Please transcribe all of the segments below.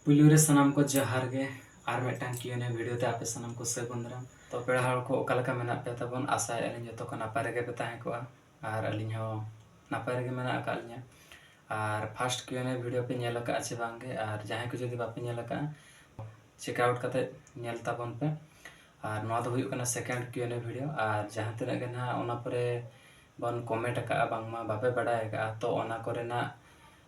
ᱯᱩᱭᱞᱩ ᱨᱮ ᱥᱟᱱᱟᱢ ᱠᱚ ᱡᱚᱦᱟᱨ ᱜᱮ ᱟᱨ ᱢᱤᱫᱴᱟᱝ ᱠᱤᱭᱩᱱᱮ ᱵᱷᱤᱰᱤᱭᱳ ᱛᱮ ᱟᱯᱮ ᱥᱟᱱᱟᱢ ᱠᱚ ᱥᱟᱹᱜᱩᱱ ᱫᱟᱨᱟᱢ ᱛᱚ ᱯᱮᱲᱟ ᱦᱚᱲ ᱠᱚ ᱚᱠᱟ ᱞᱮᱠᱟ ᱢᱮᱱᱟᱜ ᱯᱮ ᱛᱟᱵᱚᱱ ᱟᱥᱟᱭᱮᱫ ᱟᱹᱞᱤᱧ ᱡᱚᱛᱚ ᱠᱚ ᱱᱟᱯᱟᱭ ᱨᱮᱜᱮ ᱯᱮ ᱛᱟᱦᱮᱸ ᱠᱚᱜᱼᱟ ᱟᱨ ᱟᱹᱞᱤᱧ ᱦᱚᱸ ᱱᱟᱯᱟᱭ ᱨᱮᱜᱮ ᱢᱮᱱᱟᱜ ᱟᱠᱟᱫ ᱞᱤᱧᱟᱹ ᱟᱨ ᱯᱷᱟᱥᱴ ᱠᱤᱭᱩᱱᱮ ᱵᱷᱤᱰᱤᱭᱳ ᱯᱮ ᱧᱮᱞ ᱟᱠᱟᱫᱼᱟ ᱪᱮ ᱵᱟᱝ ᱜᱮ ᱟᱨ ᱡᱟᱦᱟᱸᱭ ᱠᱚ ᱡᱩᱫᱤ ᱵᱟᱯᱮ ᱧᱮᱞ ᱟᱠᱟᱫᱼᱟ ᱪᱮᱠ ᱟᱣᱩᱴ ᱠᱟᱛᱮ ᱧᱮᱞ ᱛᱟᱵᱚᱱ ᱯᱮ ᱟᱨ ᱱᱚᱣᱟ ᱫᱚ ᱦᱩᱭᱩᱜ ᱠᱟᱱᱟ ᱥᱮᱠᱮᱱᱰ ᱠᱤᱭᱩᱱᱮ ᱵᱷᱤᱰᱤᱭᱳ ᱟᱨ ᱡᱟᱦᱟᱸ ᱛᱤᱱᱟᱹᱜ ᱜᱮ ᱱᱟᱦᱟᱜ ᱚᱱᱟ ᱯᱚᱨᱮ ᱵᱚᱱ ᱠᱚᱢᱮᱱᱴ ᱟᱠᱟᱫᱼᱟ ᱵᱟᱝᱢᱟ ᱵᱟᱯᱮ ᱵᱟᱰᱟᱭ ᱟᱠᱟᱫᱼᱟ ᱛᱚ ᱚᱱᱟ ᱠᱚᱨᱮᱱᱟᱜ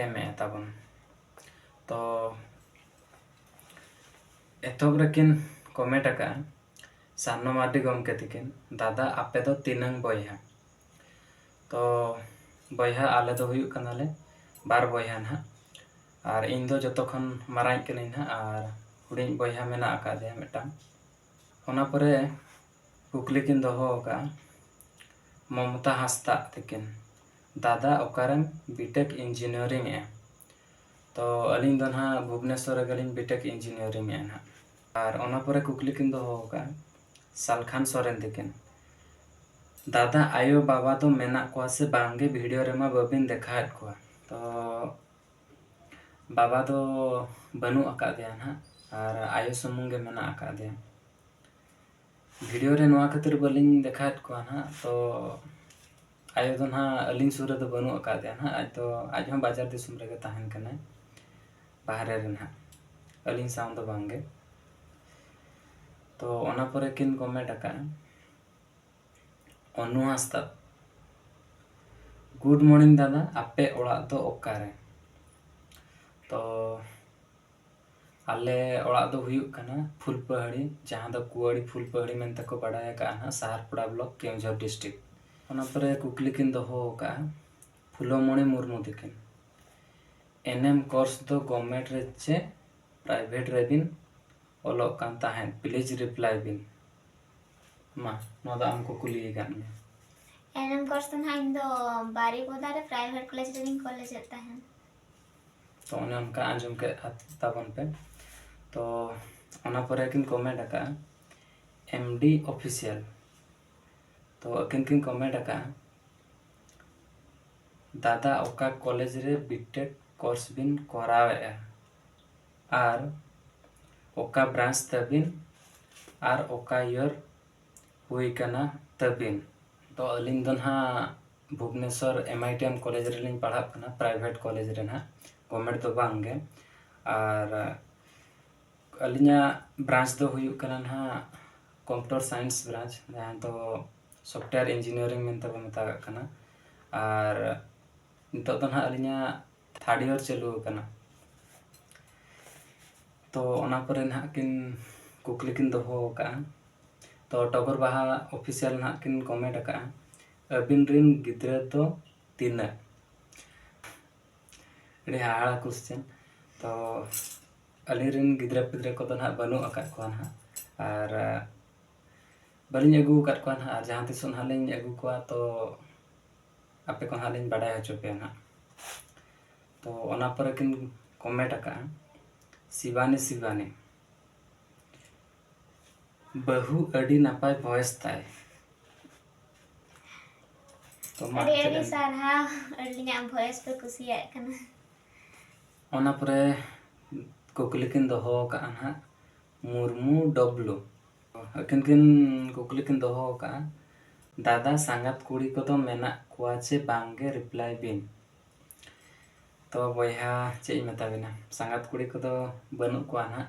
ᱮᱢᱮᱫᱼᱟ ᱛᱟᱵᱚᱱ ᱛᱚ ᱮᱛᱚᱦᱚᱵ ᱨᱮᱠᱤᱱ ᱠᱚᱢᱮᱱᱴ ᱟᱠᱟᱫᱼᱟ ᱥᱟᱨᱱᱚ ᱢᱟᱨᱰᱤ ᱜᱚᱢᱠᱮ ᱛᱤᱠᱤᱱ ᱫᱟᱫᱟ ᱟᱯᱮ ᱫᱚ ᱛᱤᱱᱟᱹᱝ ᱵᱚᱭᱦᱟ ᱛᱚ ᱵᱚᱭᱦᱟ ᱟᱞᱮ ᱫᱚ ᱦᱩᱭᱩᱜ ᱠᱟᱱᱟᱞᱮ ᱵᱟᱨ ᱵᱚᱭᱦᱟ ᱱᱟᱦᱟᱜ ᱟᱨ ᱤᱧ ᱫᱚ ᱡᱚᱛᱚ ᱠᱷᱚᱱ ᱢᱟᱨᱟᱝᱤᱡ ᱠᱟᱹᱱᱟᱹᱧ ᱱᱟᱦᱟᱜ ᱟᱨ ᱦᱩᱰᱤᱧᱤᱡ ᱵᱚᱭᱦᱟ ᱢᱮᱱᱟᱜ ᱟᱠᱟᱫᱮᱭᱟ ᱢᱤᱫᱴᱟᱝ ᱚᱱᱟ ᱯᱚᱨᱮ ᱠᱩᱠᱞᱤ ᱠᱤᱱ ᱫᱚᱦᱚ ᱟᱠᱟᱫᱼᱟ ᱢᱚᱢᱚᱛᱟ ᱦᱟᱸᱥᱫᱟᱜ ᱛᱟᱹᱠᱤᱱ ᱫᱟᱫᱟ ᱚᱠᱟᱨᱮᱢ ᱵᱤᱴᱮᱠ ᱤᱧᱡᱤᱱᱤᱭᱟᱨᱤᱝ ᱮᱜᱼᱟ ᱛᱚ ᱟᱹᱞᱤᱧ ᱫᱚ ᱱᱟᱦᱟᱜ ᱵᱷᱩᱵᱽᱱᱮᱥᱚᱨ ᱨᱮᱜᱮᱞᱤᱧ ᱵᱤᱴᱮᱠ ᱤᱧᱡᱤᱱᱤᱭᱟᱨᱤᱝ ᱮᱜᱼᱟ ᱱᱟᱦᱟᱜ ᱟᱨ ᱚᱱᱟ ᱯᱚᱨᱮ ᱠᱩᱠᱞᱤ ᱠᱤᱱ ᱫᱚᱦᱚ ᱟᱠᱟᱫᱼᱟ ᱥᱟᱞᱠᱷᱟᱱ ᱥᱚᱨᱮᱱ ᱛᱟᱹᱠᱤᱱ ᱫᱟᱫᱟ ᱟᱭᱳ ᱵᱟᱵᱟ ᱫᱚ ᱢᱮᱱᱟᱜ ᱠᱚᱣᱟ ᱥᱮ ᱵᱟᱝᱜᱮ ᱵᱷᱤᱰᱤᱭᱳ ᱨᱮᱢᱟ ᱵᱟᱹᱵᱤᱱ ᱫᱮᱠᱷᱟᱣᱮᱫ ᱠᱚᱣᱟ ᱛᱚ ᱵᱟᱵᱟ ᱫᱚ ᱵᱟᱹᱱᱩᱜ ᱟᱠᱟᱫᱮᱭᱟ ᱱᱟᱦᱟᱜ ᱟᱨ ᱟᱭᱳ ᱥᱩᱢᱩᱝ ᱜᱮ ᱢᱮᱱᱟᱜ ᱟᱠᱟᱫᱮᱭᱟ ᱵᱷᱤᱰᱤᱭᱳ ᱨᱮ ᱱᱚᱣᱟ ᱠᱷᱟᱹᱛᱤᱨ ᱵᱟᱹᱞᱤᱧ ᱫᱮᱠᱷᱟᱣᱮᱫ ᱠᱚᱣᱟ ᱱᱟᱦᱟᱜ ᱛᱚ ᱟᱭᱳ ᱫᱚ ᱱᱟᱦᱟᱜ ᱟᱹᱞᱤᱧ ᱥᱩᱨ ᱨᱮᱫᱚ ᱵᱟᱹᱱᱩᱜ ᱟᱠᱟᱫᱮᱭᱟ ᱱᱟᱦᱟᱜ ᱟᱡ ᱫᱚ ᱟᱡ ᱦᱚᱸ ᱵᱟᱡᱟᱨ ᱫᱤᱥᱚᱢ ᱨᱮᱜᱮ ᱛᱟᱦᱮᱱ ᱠᱟᱱᱟᱭ ᱵᱟᱦᱨᱮ ᱨᱮ ᱱᱟᱦᱟᱜ ᱟᱹᱞᱤᱧ ᱥᱟᱶ ᱫᱚ ᱵᱟᱝᱜᱮ ᱛᱚ ᱚᱱᱟ ᱯᱚᱨᱮ ᱠᱤᱱ ᱠᱚᱢᱮᱱᱴ ᱟᱠᱟᱫᱼᱟ ᱚᱱᱩ ᱦᱟᱸᱥᱫᱟ ᱜᱩᱰ ᱢᱚᱨᱱᱤᱝ ᱫᱟᱫᱟ ᱟᱯᱮ ᱚᱲᱟᱜ ᱫᱚ ᱚᱠᱟᱨᱮ ᱛᱚ ᱟᱞᱮ ᱚᱲᱟᱜ ᱫᱚ ᱦᱩᱭᱩᱜ ᱠᱟᱱᱟ ᱯᱷᱩᱞᱯᱟᱹᱦᱟᱹᱲᱤ ᱡᱟᱦᱟᱸ ᱫᱚ ᱠᱩᱣᱟᱹᱲᱤ ᱯᱷᱩᱞᱯᱟᱹᱦᱟᱹᱲᱤ ᱢᱮᱱᱛᱮ ᱠᱚ ᱵᱟᱰᱟᱭ ᱟᱠᱟᱫᱼᱟ ᱱᱟᱦᱟᱜ ᱥᱟᱦᱟᱨᱯᱚᱲᱟ ᱵᱞᱚᱠ ᱠᱮᱣᱡᱷᱚᱨ ᱰᱤᱥᱴᱨᱤᱠ ᱚᱱᱟ ᱯᱚᱨᱮ ᱠᱩᱠᱞᱤ ᱠᱤᱱ ᱫᱚᱦᱚ ᱟᱠᱟᱫᱼᱟ ᱯᱷᱩᱞᱚᱢᱚᱬᱤ ᱢᱩᱨᱢᱩ ᱛᱟᱹᱠᱤᱱ ᱮᱱᱮᱢ ᱠᱳᱨᱥ ᱫᱚ ᱜᱚᱵᱷᱢᱮᱱᱴ ᱨᱮ ᱪᱮ ᱯᱨᱟᱭᱵᱷᱮᱴ ᱨᱮᱵᱤᱱ ᱚᱞᱚᱜ ᱠᱟᱱ ᱛᱟᱦᱮᱸᱫ ᱯᱞᱤᱡᱽ ᱨᱤᱯᱞᱟᱭ ᱵᱤᱱ ᱢᱟ ᱱᱚᱣᱟ ᱫᱚ ᱟᱢ ᱠᱚ ᱠᱩᱞᱤ ᱟᱠᱟᱫ ᱢᱮᱭᱟ ᱮᱱᱮᱢ ᱠᱳᱨᱥ ᱫᱚ ᱱᱟᱦᱟᱜ ᱤᱧ ᱫᱚ ᱵᱟᱨᱤᱯᱚᱫᱟ ᱨᱮ ᱯᱨᱟᱭᱵᱷᱮᱴ ᱠᱚᱞᱮᱡᱽ ᱨᱮᱜᱤᱧ ᱠᱚᱞᱮᱡᱮᱫ ᱛᱟᱦᱮᱸᱫ ᱛᱚ ᱚᱱᱮ ᱚᱱᱠᱟ ᱟᱸᱡᱚᱢ ᱠᱮᱫ ᱛᱟᱵᱚᱱ ᱯᱮ ᱛᱚ ᱚᱱᱟ ᱯᱚᱨᱮ ᱠᱤᱱ ᱠᱚᱢᱮᱱᱴ ᱟᱠᱟᱫᱼᱟ ᱮᱢ ᱰᱤ ᱚᱯᱷᱤᱥᱤᱭᱟᱞ ᱛᱚ ᱟᱹᱠᱤᱱ ᱠᱤᱱ ᱠᱚᱢᱮᱱᱴ ᱟᱠᱟᱫᱼᱟ ᱫᱟᱫᱟ ᱚᱠᱟ ᱠᱚᱞᱮᱡᱽ ᱨᱮ ᱵᱤᱴᱮᱠ ᱠᱳᱨᱥ ᱵᱤᱱ ᱠᱚᱨᱟᱣᱮᱫᱼᱟ ᱟᱨ ᱚᱠᱟ ᱵᱨᱟᱱᱪ ᱛᱟᱹᱵᱤᱱ ᱟᱨ ᱚᱠᱟ ᱤᱭᱚᱨ ᱦᱩᱭ ᱠᱟᱱᱟ ᱛᱟᱹᱵᱤᱱ ᱛᱚ ᱟᱹᱞᱤᱧ ᱫᱚ ᱱᱟᱦᱟᱜ Bhubaneswar M I T M college ᱨᱮᱞᱤᱧ ᱯᱟᱲᱦᱟᱜ ᱠᱟᱱᱟ ᱯᱨᱟᱭᱵᱷᱮᱴ ᱠᱚᱞᱮᱡᱽ ᱨᱮ ᱱᱟᱦᱟᱜ ᱜᱚᱵᱷᱢᱮᱱᱴ ᱫᱚ ᱵᱟᱝ ᱜᱮ ᱟᱨ ᱟᱹᱞᱤᱧᱟᱜ ᱵᱨᱟᱧᱪ ᱫᱚ ᱦᱩᱭᱩᱜ ᱠᱟᱱᱟ ᱱᱟᱦᱟᱜ ᱠᱚᱢᱯᱤᱭᱩᱴᱟᱨ ᱥᱟᱭᱮᱱᱥ ᱵᱨᱟᱧᱪ ᱡᱟᱦᱟᱸ ᱫᱚ ᱥᱚᱯᱷᱴᱣᱮᱭᱟᱨ ᱤᱧᱡᱤᱱᱤᱭᱟᱨᱤᱝ ᱢᱮᱱᱛᱮ ᱵᱚᱱ ᱢᱮᱛᱟᱜᱟᱜ ᱠᱟᱱᱟ ᱟᱨ ᱱᱤᱛᱚᱜ ᱫᱚ ᱱᱟᱦᱟᱜ ᱟᱹᱞᱤᱧᱟᱜ ᱛᱷᱟᱨᱰ ᱤᱭᱟᱨ ᱪᱟᱹᱞᱩ ᱟᱠᱟᱱᱟ ᱛᱚ ᱚᱱᱟ ᱠᱚᱨᱮ ᱱᱟᱦᱟᱜ ᱠᱤᱱ ᱠᱩᱠᱞᱤ ᱠᱤᱱ ᱫᱚᱦᱚ ᱟᱠᱟᱫᱼᱟ ᱛᱚ ᱴᱚᱜᱚᱨ ᱵᱟᱦᱟ ᱚᱯᱷᱤᱥᱤᱭᱟᱞ ᱱᱟᱦᱟᱜ ᱠᱤᱱ ᱠᱚᱢᱮᱱᱴ ᱟᱠᱟᱫᱼᱟ ᱟᱹᱵᱤᱱ ᱨᱤᱱ ᱜᱤᱫᱽᱨᱟᱹ ᱫᱚ ᱛᱤᱱᱟᱹᱜ? ᱟᱹᱰᱤ ᱦᱟᱦᱟᱲᱟ ᱠᱩᱥᱪᱮᱱ ᱛᱚ ᱟᱹᱞᱤᱧ ᱨᱤᱱ ᱜᱤᱫᱽᱨᱟᱹ ᱯᱤᱫᱽᱨᱟᱹ ᱠᱚᱫᱚ ᱱᱟᱦᱟᱜ ᱵᱟᱹᱱᱩᱜ ᱟᱠᱟᱫ ᱠᱚᱣᱟ ᱱᱟᱦᱟᱜ ᱟᱨ ᱵᱟᱹᱞᱤᱧ ᱟᱹᱜᱩ ᱟᱠᱟᱫ ᱠᱚᱣᱟ ᱱᱟᱦᱟᱜ ᱟᱨ ᱡᱟᱦᱟᱸ ᱛᱤᱥᱚᱜ ᱱᱟᱦᱟᱜ ᱞᱤᱧ ᱟᱹᱜᱩ ᱠᱚᱣᱟ ᱛᱚ ᱟᱯᱮ ᱠᱚ ᱱᱟᱦᱟᱜ ᱞᱤᱧ ᱵᱟᱰᱟᱭ ᱦᱚᱪᱚ ᱯᱮᱭᱟ ᱱᱟᱦᱟᱜ ᱛᱚ ᱚᱱᱟ ᱯᱚᱨᱮ ᱠᱤᱱ ᱠᱚᱢᱮᱱᱴ ᱟᱠᱟᱫᱼᱟ ᱥᱤᱵᱟᱱᱤ ᱥᱤᱵᱟᱱᱤ ᱵᱟᱹᱦᱩ ᱟᱹᱰᱤ ᱱᱟᱯᱟᱭ ᱵᱷᱚᱭᱮᱥ ᱛᱟᱭ ᱛᱚ ᱢᱟ ᱟᱹᱰᱤ ᱪᱮᱫ ᱟᱹᱰᱤ ᱮᱢ ᱥᱟᱨᱦᱟᱣ ᱟᱹᱞᱤᱧᱟᱜ ᱵᱷᱚᱭᱮᱥ ᱯᱮ ᱠᱩᱥᱤᱭᱟᱜ ᱠᱟᱱᱟ ᱚᱱᱟ ᱯᱚᱨᱮ ᱠᱩᱠᱞᱤ ᱠᱤᱱ ᱫᱚᱦᱚ ᱟᱠᱟᱫᱼᱟ ᱱᱟᱦᱟᱜ ᱢᱩᱨᱢᱩ ᱰᱚᱵᱞᱩ ᱟᱹᱠᱤᱱ ᱠᱤᱱ ᱠᱩᱠᱞᱤ ᱠᱤᱱ ᱫᱚᱦᱚ ᱟᱠᱟᱫᱼᱟ ᱫᱟᱫᱟ ᱥᱟᱸᱜᱟᱛ ᱠᱩᱲᱤ ᱠᱚᱫᱚ ᱢᱮᱱᱟᱜ ᱠᱚᱣᱟ ᱪᱮ ᱵᱟᱝᱜᱮ ᱨᱤᱯᱞᱟᱭ ᱵᱤᱱ ᱛᱚ ᱵᱚᱭᱦᱟ ᱪᱮᱫ ᱤᱧ ᱢᱮᱛᱟ ᱵᱤᱱᱟ ᱥᱟᱸᱜᱟᱛ ᱠᱩᱲᱤ ᱠᱚᱫᱚ ᱵᱟᱹᱱᱩᱜ ᱠᱚᱣᱟ ᱱᱟᱦᱟᱜ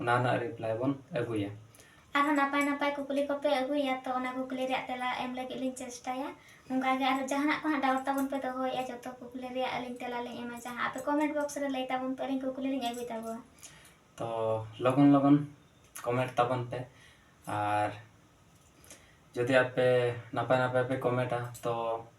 ᱚᱱᱟ ᱨᱮᱱᱟᱜ ᱨᱤᱯᱞᱟᱭ ᱵᱚᱱ ᱟᱹᱜᱩᱭᱟ ᱟᱨᱦᱚᱸ ᱱᱟᱯᱟᱭ ᱱᱟᱯᱟᱭ ᱠᱩᱠᱞᱤ ᱠᱚᱯᱮ ᱟᱹᱜᱩᱭᱟ ᱛᱚ ᱚᱱᱟ ᱠᱩᱠᱞᱤ ᱨᱮᱭᱟᱜ ᱛᱮᱞᱟ ᱮᱢ ᱞᱟᱹᱜᱤᱫ ᱞᱤᱧ ᱪᱮᱥᱴᱟᱭᱟ ᱚᱱᱠᱟᱜᱮ ᱟᱨᱦᱚᱸ ᱡᱟᱦᱟᱱᱟᱜ ᱠᱚ ᱦᱟᱸᱜ ᱰᱟᱣᱩᱴ ᱛᱟᱵᱚᱱ ᱯᱮ ᱫᱚᱦᱚᱭᱮᱫᱼᱟ ᱡᱚᱛᱚ ᱠᱩᱠᱞᱤ ᱨᱮᱭᱟᱜ ᱟᱹᱞᱤᱧ ᱛᱮᱞᱟ ᱞᱤᱧ ᱮᱢᱟ ᱡᱟᱦᱟᱸ ᱟᱯᱮ ᱠᱚᱢᱮᱱᱴ ᱵᱚᱠᱥ ᱨᱮ ᱞᱟᱹᱭ ᱛᱟᱵᱚᱱ ᱯᱮ ᱟᱹᱞᱤᱧ ᱠᱩᱠᱞᱤ ᱞᱤᱧ ᱟᱹᱜᱩᱭ ᱛᱟᱵᱚᱱᱟ ᱛᱚ ᱞᱚᱜᱚᱱ ᱞᱚᱜᱚᱱ ᱠᱚᱢᱮᱱᱴ ᱛᱟᱵᱚᱱ ᱯᱮ ᱟᱨ ᱡᱩᱫᱤ ᱟᱯᱮ ᱱᱟᱯᱟᱭ ᱱᱟᱯᱟᱭ ᱯᱮ ᱠᱚᱢᱮᱱᱴᱟ ᱛᱚ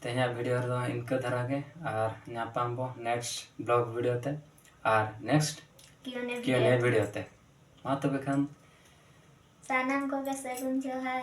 ᱛᱮᱦᱮᱧᱟᱜ ᱵᱷᱤᱰᱤᱭᱳ ᱨᱮᱫᱚ ᱤᱱᱠᱟᱹ ᱫᱷᱟᱨᱟ ᱜᱮ ᱟᱨ ᱧᱟᱯᱟᱢ ᱵᱚ ᱱᱮᱠᱥᱴ ᱵᱞᱚᱜ ᱵᱷᱤᱰᱤᱭᱳ ᱛᱮ ᱟᱨ ᱱᱮᱠᱥᱴ ᱠᱤᱭᱩᱱᱮ ᱠᱤᱭᱩᱱᱮ ᱵᱷᱤᱰᱤᱭᱳ ᱛᱮ ᱢᱟ ᱛᱚᱵᱮ ᱠᱷᱟᱱ ᱥᱟᱱᱟᱢ ᱠᱚᱜᱮ ᱥᱟᱹᱜᱩᱱ ᱡᱚᱦᱟᱨ